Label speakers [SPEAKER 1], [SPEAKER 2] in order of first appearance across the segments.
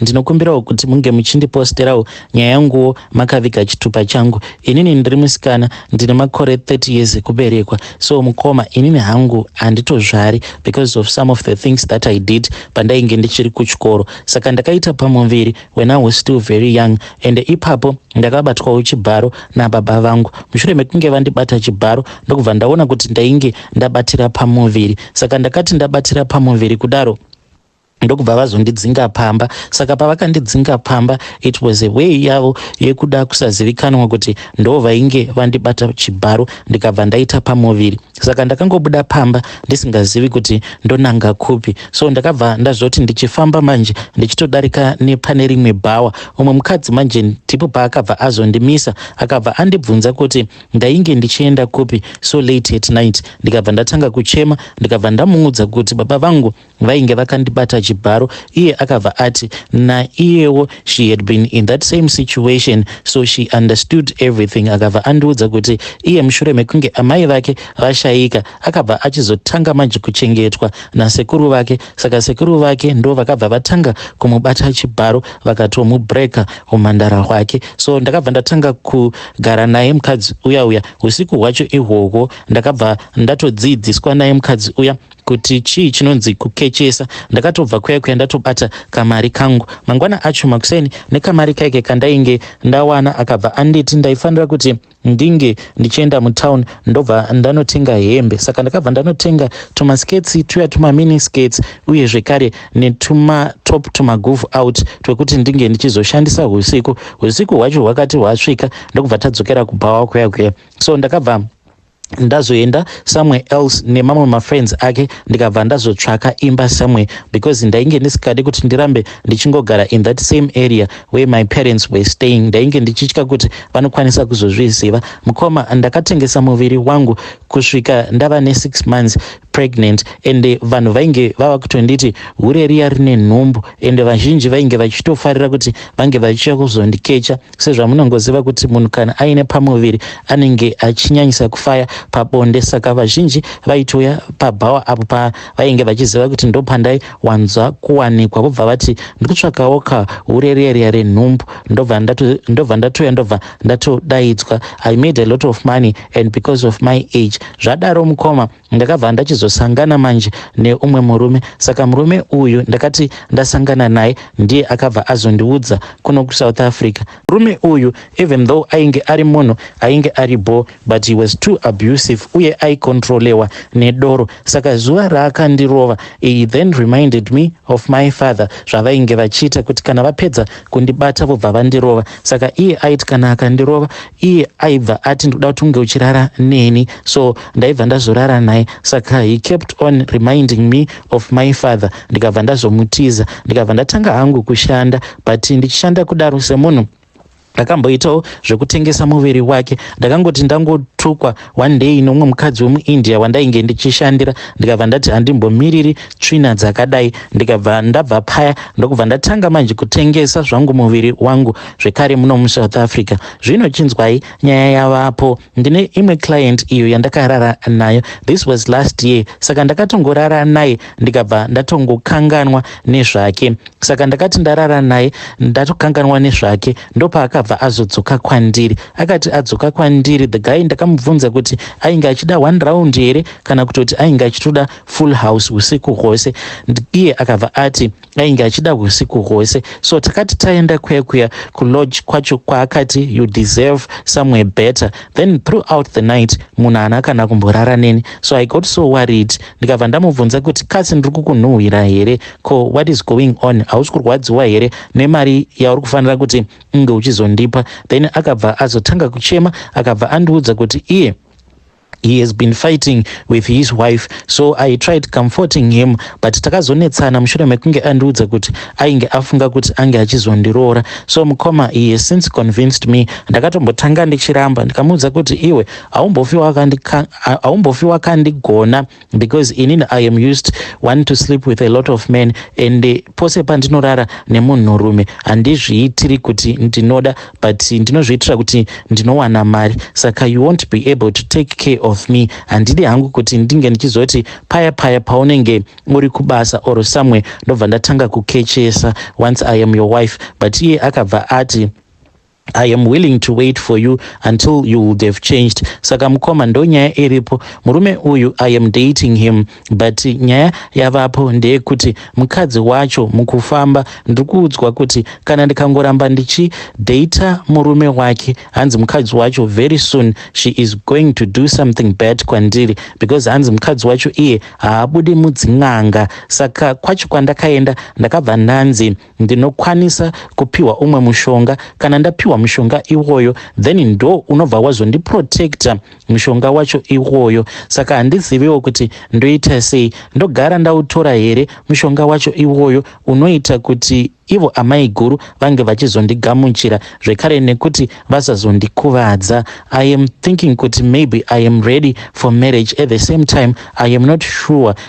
[SPEAKER 1] Ndinokumbirawo kuti munge muchindiposterawo nyaya yanguwo makaviga chitupa changu. Inini ndiri musikana ndine makore 30 years ekuberekwa so mukoma inini hangu handitozvari because of some of the things that I did pandainge ndichiri kuchikoro saka ndakaita pamuviri when I was still very young and ipapo ndakabatwawo chibharo nababa vangu. Mushure mekunge vandibata chibharo ndokubva ndaona kuti ndainge ndabatira pamuviri saka ndakati ndabatira pamuviri kudaro ndokubva vazondidzinga pamba saka pavakandidzinga pamba it was a way yavo yekuda kusazivikanwa kuti ndo vainge vandibata chibharo ndikabva ndaita pamuviri saka ndakangobuda pamba ndisingazivi kuti ndonanga kupi so ndakabva ndazoti ndichifamba manje ndichitodarika nepane rimwe bhawa umwe mukadzi manje ndipo paakabva azondimisa akabva andibvunza kuti ndainge ndichienda kupi so late at night ndikabva ndatanga kuchema ndikabva ndamuudza kuti baba vangu vainge vakandibata chibharo iye akabva ati naiyewo she had been in that same situation so she understood everything akabva andiudza kuti iye mushure mekunge amai vake vashaika akabva achizotanga manje kuchengetwa nasekuru vake saka sekuru vake ndo vakabva vatanga kumubata chibharo vakatomubreaker umhandara hwake so ndakabva ndatanga kugara naye mukadzi uya uya usiku hwacho ihwohwo ndakabva ndatodziidziswa naye mukadzi uya kuti chii chinonzi kukechesa ndakatobva kuya kuya ndatobata kamari kangu mangwana acho makuseni nekamari kaike kandainge ndawana akabva anditi ndaifanira kuti ndinge ndichienda mutown ndobva ndanotenga hembe saka ndakabva ndanotenga tumasketsi tuya tumamini sketsi uye zvekare netumatop tumagov out twekuti ndinge ndichizoshandisa usiku usiku hwacho hwakati hwasvika ndokubva tadzokera kubhawa kuya kuya so ndakabva ndazoenda somewhere else nemamwe mafriends ake ndikabva ndazotsvaka imba somewhere because ndainge ndisikadi kuti ndirambe ndichingogara in that same area where my parents were staying ndainge ndichitya kuti vanokwanisa kuzozviziva mukoma ndakatengesa muviri wangu kusvika ndava nesix months pregnant and vanhu vainge vava kutonditi hure riya rine nhumbu and vazhinji vainge vachitofarira kuti vange vachiuya kuzondikecha Sezvamunongoziva kuti munhu kana aine pamuviri anenge achinyanyisa kufaya pabonde saka vazhinji vaitouya pabhawa apo pavainge vachiziva kuti ndopandai wanzwa kuwanikwa vobva vati ndikutsvakawo kaureriaria renhumbu ndobva ndatouya ndobva ndatodaidzwa i made a lot of money and because of my age zvadaro mukoma ndakabva ndachizosangana manje neumwe murume saka murume uyu ndakati ndasangana naye ndiye akabva azondiudza kuno kusouth africa murume uyu even though ainge ari munhu ainge ari bho but he was too abusive uye aikontrolewa nedoro saka zuva raakandirova iyi then reminded me of my father zvavainge vachiita kuti kana vapedza kundibata vobva vandirova saka iye aiti kana akandirova iye aibva ati ndoda kuti unge uchirara neni so ndaibva ndazorara naye saka he kept on reminding me of my father ndikabva ndazomutiza ndikabva ndatanga hangu kushanda but ndichishanda kudaro semunhu ndakamboitawo zvekutengesa muviri wake ndakangoti ndangotukwa One day neumwe mukadzi wemuIndia wandainge ndichishandira ndikabva ndati handimbomiriri tsvina dzakadai ndikabva ndabva paya ndokubva ndatanga manje kutengesa zvangu muviri wangu zvekare muno musouth africa zvino chinzwai nyaya yavapo ndine imwe client iyo yandakarara nayo this was last year saka ndakatongorara naye ndikabva ndatongokanganwa nezvake saka ndakati ndarara naye ndatokanganwa nezvake ndopaakabva azodzoka kwandiri akati adzoka kwandiri the guy ndakamubvunza kuti ainge achida one round here kana kutoti ainge achitoda full house usiku hwose iye akabva ati ainge achida usiku hwose so takati taenda kuya kuya kulodge kwacho kwaakati you deserve somewhere better then throughout the night munhu haana kana kumborara neni so i got so worried ndikabva ndamubvunza kuti kasi ndiri kukunhuhwira here ko what is going on hausi kurwadziwa here nemari yauri kufanira kuti unge uchizondipa then akabva azotanga kuchema akabva andiudza kuti iye he has been fighting with his wife so i tried comforting him but takazonetsana mushure mekunge andiudza kuti ainge afunga kuti ange achizondiroora so mukoma he has since convinced me ndakatombotanga ndichiramba ndikamuudza kuti iwe haumbofi wakandigona because inini i am used one to sleep with a lot of men and eh, pose pandinorara nemunhurume handizviitiri kuti ndinoda but ndinozviitira kuti ndinowana mari saka you won't be able to take care of me handidi hangu kuti ndinge ndichizoti paya paya paunenge uri kubasa or somewhere ndobva ndatanga kukechesa once i am your wife but iye akabva ati I am willing to wait for you until you would have changed. Saka mukoma ndonyaya iripo. Murume uyu I am dating him but nyaya yavapo ndeyekuti mukadzi wacho mukufamba ndikuudzwa kuti kana ndikangoramba ndichi data murume wake hanzi mukadzi wacho very soon she is going to do something bad kwandiri because hanzi mukadzi wacho iye haabudi mudzin'anga saka kwacho kwandakaenda ndakabva ndanzi ndinokwanisa kupiwa umwe mushonga kana ndapiwa mushonga iwoyo then ndo unobva wazondiprotecta mushonga wacho iwoyo saka handiziviwo kuti ndoita sei ndogara ndautora here mushonga wacho iwoyo unoita kuti ivo amai guru vange vachizondigamuchira zvekare nekuti vasazondikuvadza i am thinking kuti maybe i am ready for marriage at the same time i am not sure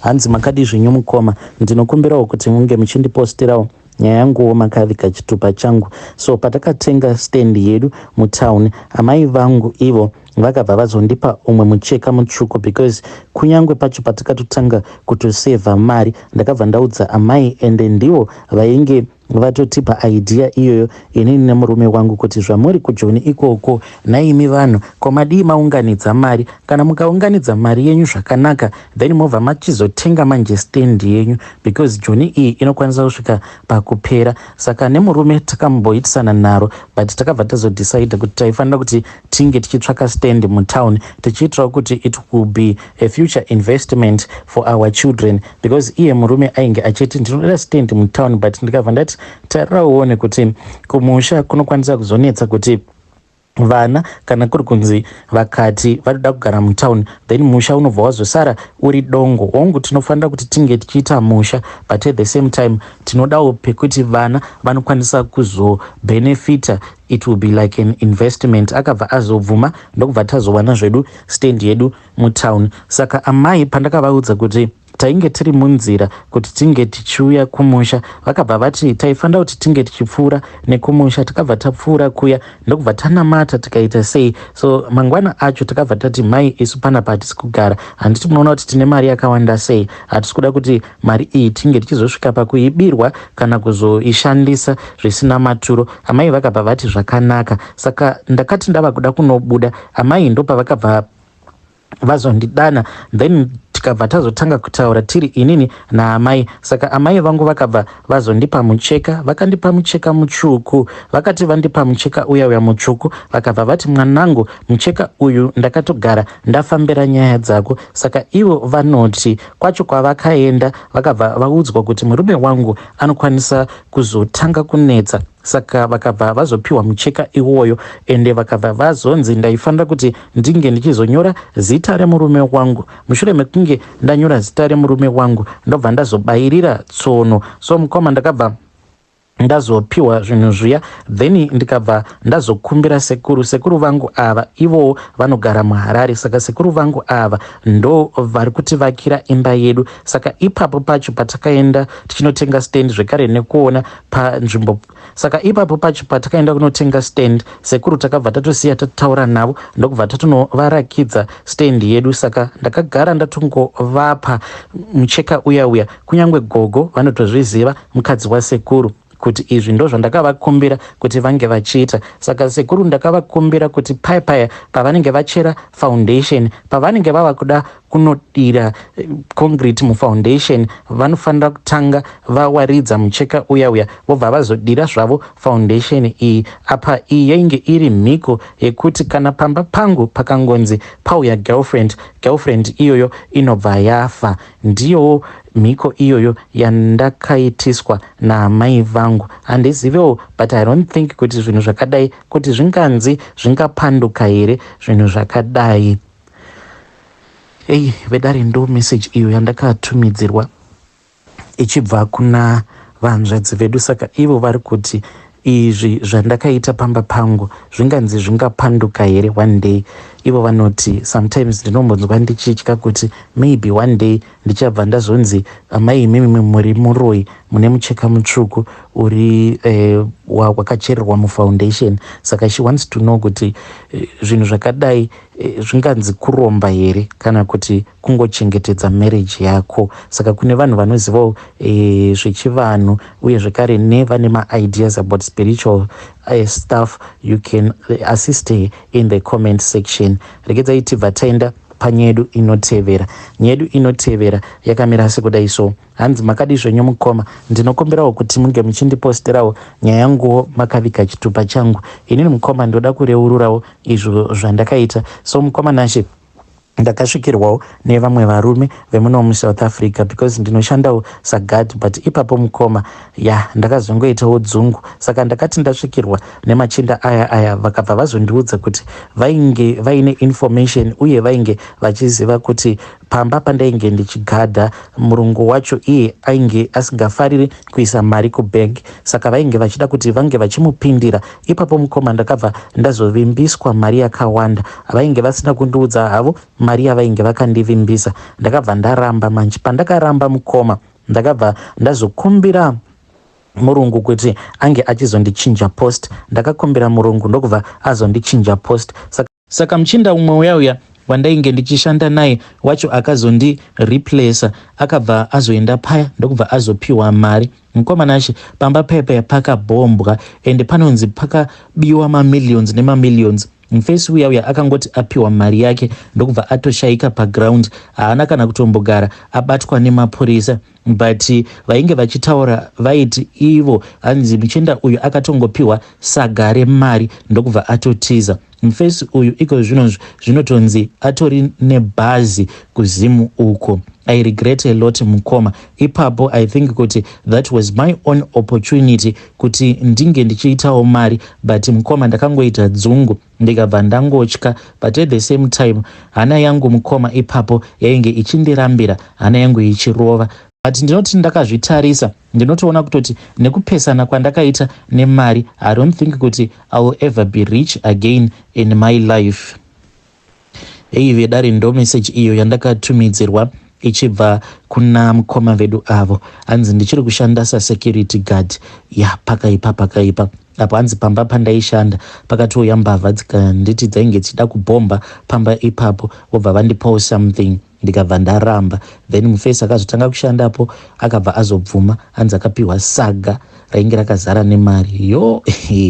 [SPEAKER 1] Hanzi makadii zvenyu mukoma, ndinokumbirawo kuti munge muchindipostirawo nyaya yanguwo makaviga chitupa changu. So patakatenga stand yedu mutown, amai vangu ivo vakabva vazondipa umwe mucheka mutsvuku because kunyange pacho patakatotanga kutosevha mari ndakabva ndaudza amai ende ndivo vainge vatotipa idea iyoyo inini nemurume wangu kuti zvamuri kujoni ikoko naimi vanhu ko madii maunganidza mari kana mukaunganidza mari yenyu zvakanaka then mobva machizotenga manje stand yenyu because joni iyi inokwanisa kusvika pakupera saka nemurume takamboitisana naro but takabva tazodecide kuti taifanira kuti tinge tichitsvaka stand mutown tichiitirawo kuti it will be a future investment for our children because iye murume ainge achiti ndinoda stand mutown but ndikabva ndati tarira uone kuti kumusha kunokwanisa kuzonetsa kuti vana kana kuri kunzi vakati vanoda kugara mutown then musha unobva wazosara uri dongo hongu tinofanira kuti tinge tichiita musha but at the same time tinodawo pekuti vana vanokwanisa kuzobhenefita It will be like an investment akabva azobvuma ndokubva tazowana zvedu stand yedu mutown. Saka amai pandakavaudza kuti tainge tiri munzira kuti tinge tichiuya kumusha vakabva vati taifanira kuti tinge tichipfuura nekumusha tikabva tapfuura kuya ndokubva tanamata tikaita sei so mangwana acho takabva tati mai isu panapa hatisi kugara handiti munoona kuti tine mari yakawanda sei hatisi kuda kuti Mari iyi tinge tichizosvika pakuibirwa kana kuzoishandisa zvisina maturo. Amai vakabva vati zvakanaka. Saka ndakati ndava kuda kunobuda amai ndopavakabva vazondidana then tikabva tazotanga kutaura tiri inini naamai saka amai vangu vakabva vazondipa mucheka vakandipa mucheka mutsvuku vakati vandipa mucheka uya uya mutsvuku vakabva vati mwanangu mucheka uyu ndakatogara ndafambira nyaya dzako saka ivo vanoti kwacho kwavakaenda vakabva vaudzwa kuti murume wangu anokwanisa kuzotanga kunetsa saka vakabva vazopiwa mucheka iwoyo ende vakabva vazonzi ndaifanira kuti ndinge ndichizonyora zita remurume wangu mushure mekunge ndanyora zita remurume wangu ndobva ndazobayirira tsono so mukoma ndakabva ndazopiwa zvinhu zviya then ndikabva ndazokumbira sekuru sekuru vangu ava ivowo vanogara muharare saka sekuru vangu ava ndo vari kutivakira imba yedu saka ipapo pacho patakaenda tichinotenga stand zvekare nekuona panzvimbo saka ipapo pacho patakaenda kunotenga stand sekuru takabva tatosiya tataura navo ndokubva tatonovarakidza stand yedu saka ndakagara ndatongovapa mucheka uya uya kunyange gogo vanotozviziva mukadzi wasekuru kuti izvi ndozvandakavakumbira kuti vange vachiita saka sekuru ndakavakumbira kuti paya paya pavanenge vachera foundation pavanenge vava kuda kunodira eh, concrete mufoundation vanofanira kutanga vawaridza mucheka uya uya vobva vazodira zvavo foundation iyi apa iyi yainge iri mhiko yekuti kana pamba pangu pakangonzi pauya girlfriend girlfriend iyoyo inobva yafa Ndiyowo mhiko iyoyo yandakaitiswa naamai vangu. Handizivewo but I don't think kuti zvinhu zvakadai kuti zvinganzi zvingapanduka here zvinhu zvakadai. Eyi vedare ndo message iyo yandakatumidzirwa ichibva kuna vahanzvadzi vedu saka ivo vari kuti Izvi zvandakaita pamba pangu zvinganzi zvingapanduka here one day? Ivo vanoti, Sometimes ndinombonzwa ndichitya kuti maybe one day ndichabva ndazonzi amai imimi muri muroyi mune mucheka mutsvuku uri eh, wakachererwa mufoundation. Saka she wants to know kuti eh, zvinhu zvakadai Eh, zvinganzi kuromba here kana kuti kungochengetedza marriage yako saka kune vanhu vanozivawo e, zvechivanhu uye zvekare nevane maideas about spiritual uh, stuff you can assist her in the comment section regedzai tibva taenda panyedu inotevera nyedu inotevera yakamira sekudai so Hanzi makadii zvenyu mukoma, ndinokumbirawo kuti munge muchindiposterawo nyaya yanguwo makaviga chitupa changu. Inini mukoma ndoda kureururawo izvo zvandakaita. So mukoma Nashe ndakasvikirwawo nevamwe varume vemuno muSouth Africa because ndinoshandawo saguard but ipapo mukoma ya ndakazongoitawo dzungu saka ndakati ndasvikirwa nemachinda aya aya vakabva vazondiudza kuti vainge vaine information uye vainge vachiziva kuti Pamba pandainge ndichigadha, murungu wacho iye ainge asingafariri kuisa mari kubank saka vainge vachida kuti vange vachimupindira. Ipapo mukoma ndakabva ndazovimbiswa mari yakawanda. Vainge vasina kundiudza havo mari yavainge vakandivimbisa. Ndakabva ndaramba manje. Pandakaramba mukoma ndakabva ndazokumbira murungu kuti ange achizondichinja post. Ndakakumbira murungu ndokubva azondichinja post. Saka Saka muchinda umwe uya uya wandainge ndichishanda naye wacho akazondi replacer akabva azoenda paya ndokubva azopiwa mari mukoma Nashe pamba paya paya pakabhombwa ende panonzi pakabiwa mamillions nemamillions mufesi uya uya akangoti apiwa mari yake ndokubva atoshaika paground haana kana kutombogara abatwa nemapurisa But vainge vachitaura vaiti ivo hanzi muchenda uyu akatongopiwa saga remari ndokubva atotiza. Mface uyu ikozvino zvinotonzi atori nebhazi kuZim uko. I regret a lot mukoma. Ipapo I think kuti that was my own opportunity kuti ndinge ndichiitawo mari but mukoma ndakangoita dzungu. ndikabva ndangotya but at the same time hana yangu mukoma ipapo yainge ichindirambira hana yangu ichirova but ndinoti ndakazvitarisa ndinotoona kutoti nekupesana kwandakaita nemari i don't think kuti i will ever be rich again in my life Heyi vedare ndomessage iyo yandakatumidzirwa ichibva kuna mukoma vedu avo hanzi ndichiri kushanda sasecurity guard ya pakaipa pakaipa apo hanzi pamba pandaishanda pakatouya mbavha dzikanditi dzainge dzichida kubhomba pamba ipapo vobva vandipawo something ndikabva ndaramba then mufesi akazotanga kushandapo akabva azobvuma hanzi akapiwa saga rainge rakazara nemari yo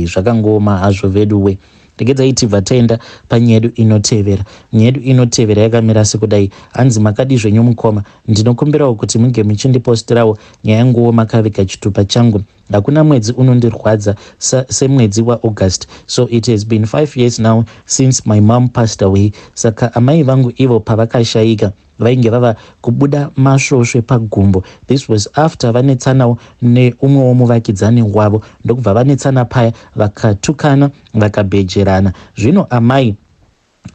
[SPEAKER 1] zvakangooma hazvo veduwe Regedzai tibva taenda panyedu inotevera. Nyedu inotevera yakamira sekudai. Hanzi makadii zvenyu mukoma? Ndinokumbirawo kuti muge muchindipostirawo nyaya yanguwo makaviga chitupa changu. Hakuna mwedzi unondirwadza sa, semwedzi waAugust. So it has been five years now since my mom passed away. Saka amai vangu ivo pavakashayika vainge vava kubuda masvosve pagumbo this was after vanetsanawo neumwewo muvakidzani wavo ndokubva vanetsana paya vakatukana vakabhejerana zvino amai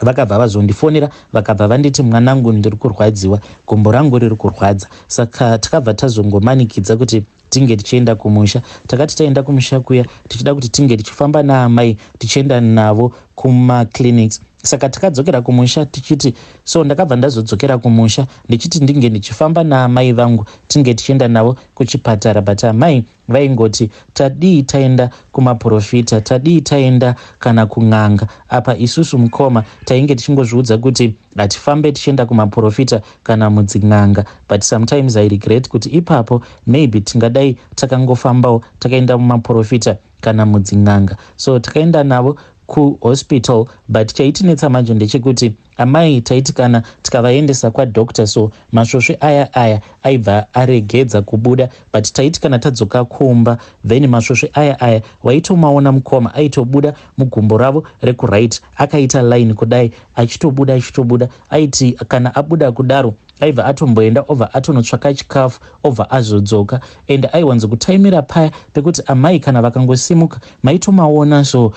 [SPEAKER 1] vakabva vazondifonera vakabva vanditi mwanangu ndiri kurwadziwa gumbo rangu riri kurwadza saka takabva tazongomanikidza kuti tinge tichienda kumusha. Takati taenda kumusha kuya tichida kuti tinge tichifamba naamai tichienda navo kumaclinics saka takadzokera kumusha tichiti so ndakabva ndazodzokera kumusha ndichiti ndinge ndichifamba naamai vangu tinge tichienda navo kuchipatara but amai vaingoti tadii taenda kumaprofita tadii taenda kana kun'anga apa isusu mukoma tainge tichingozviudza kuti Ngatifambe tichienda kumaporofita kana mudzin'anga but sometimes I regret kuti ipapo maybe tingadai takangofambawo takaenda mumaporofita kana mudzin'anga. So takaenda navo kuhospital but chaitinetsa manje ndechekuti amai taiti kana tikavaendesa kwadoctor so masvosve aya aya aibva aregedza kubuda but taiti kana tadzoka kumba then masvosve aya aya waitomaona mukoma aitobuda mugumbo ravo rekuright akaita line kudai achitobuda achitobuda aiti kana abuda kudaro aibva atomboenda obva atonotsvaka chikafu obva azodzoka and aiwanzokutaimira paya pekuti amai kana vakangosimuka maitomaona so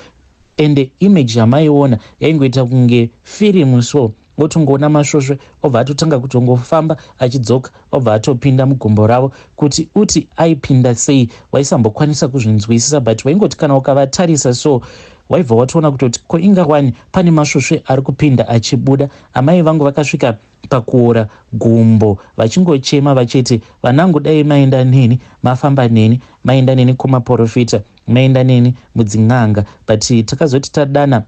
[SPEAKER 1] and image yamaiona yaingoita kunge firimu so votongoona masvosve obva atotanga kutongofamba achidzoka obva atopinda mugumbo ravo kuti uti aipinda sei waisambokwanisa kuzvinzwisisa but waingoti kana ukavatarisa so waibva watoona kutoti ko inga wani pane masvosve ari kupinda achibuda amai vangu vakasvika pakuora gumbo vachingochema vachiti vanangu dai maenda neni mafamba neni maenda neni kumaporofita maenda neni mudzin'anga but takazoti tadana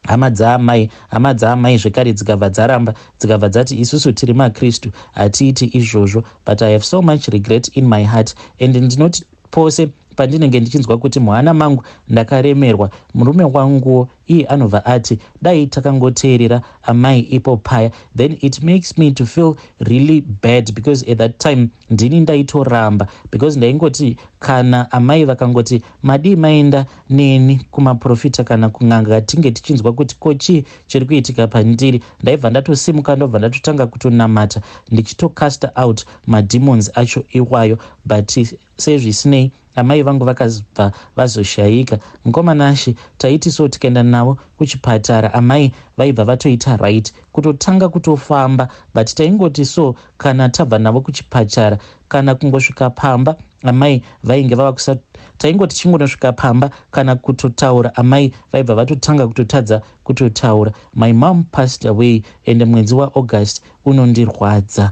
[SPEAKER 1] hama dzaamai, hama dzaamai zvekare dzikabva dzaramba, dzikabva dzati isusu tiri maKristu hatiiti izvozvo, but I have so much regret in my heart and ndinoti pose pandinenge ndichinzwa kuti muhana mangu ndakaremerwa murume wanguwo iye anobva ati dai takangoteerera amai ipo paya then it makes me to feel really bad because at that time ndini ndaitoramba because ndaingoti kana amai vakangoti madii maenda neni kumaprofita kana kun'anga tinge tichinzwa kuti ko chii chiri kuitika pandiri ndaibva ndatosimuka ndobva ndatotanga kutonamata ndichitocasta out mademons acho iwayo but sezvisinei Amai vangu vakabva vazoshaika. Mkoma Nashy taiti so tikaenda navo kuchipatara amai vaibva vatoita right kutotanga kutofamba but taingoti so kana tabva navo kuchipatara kana kungosvika pamba amai vainge vava kusa taingoti chingonosvika pamba kana kutotaura amai vaibva vatotanga kutotadza kutotaura my mom passed away ende mwedzi waaugust unondirwadza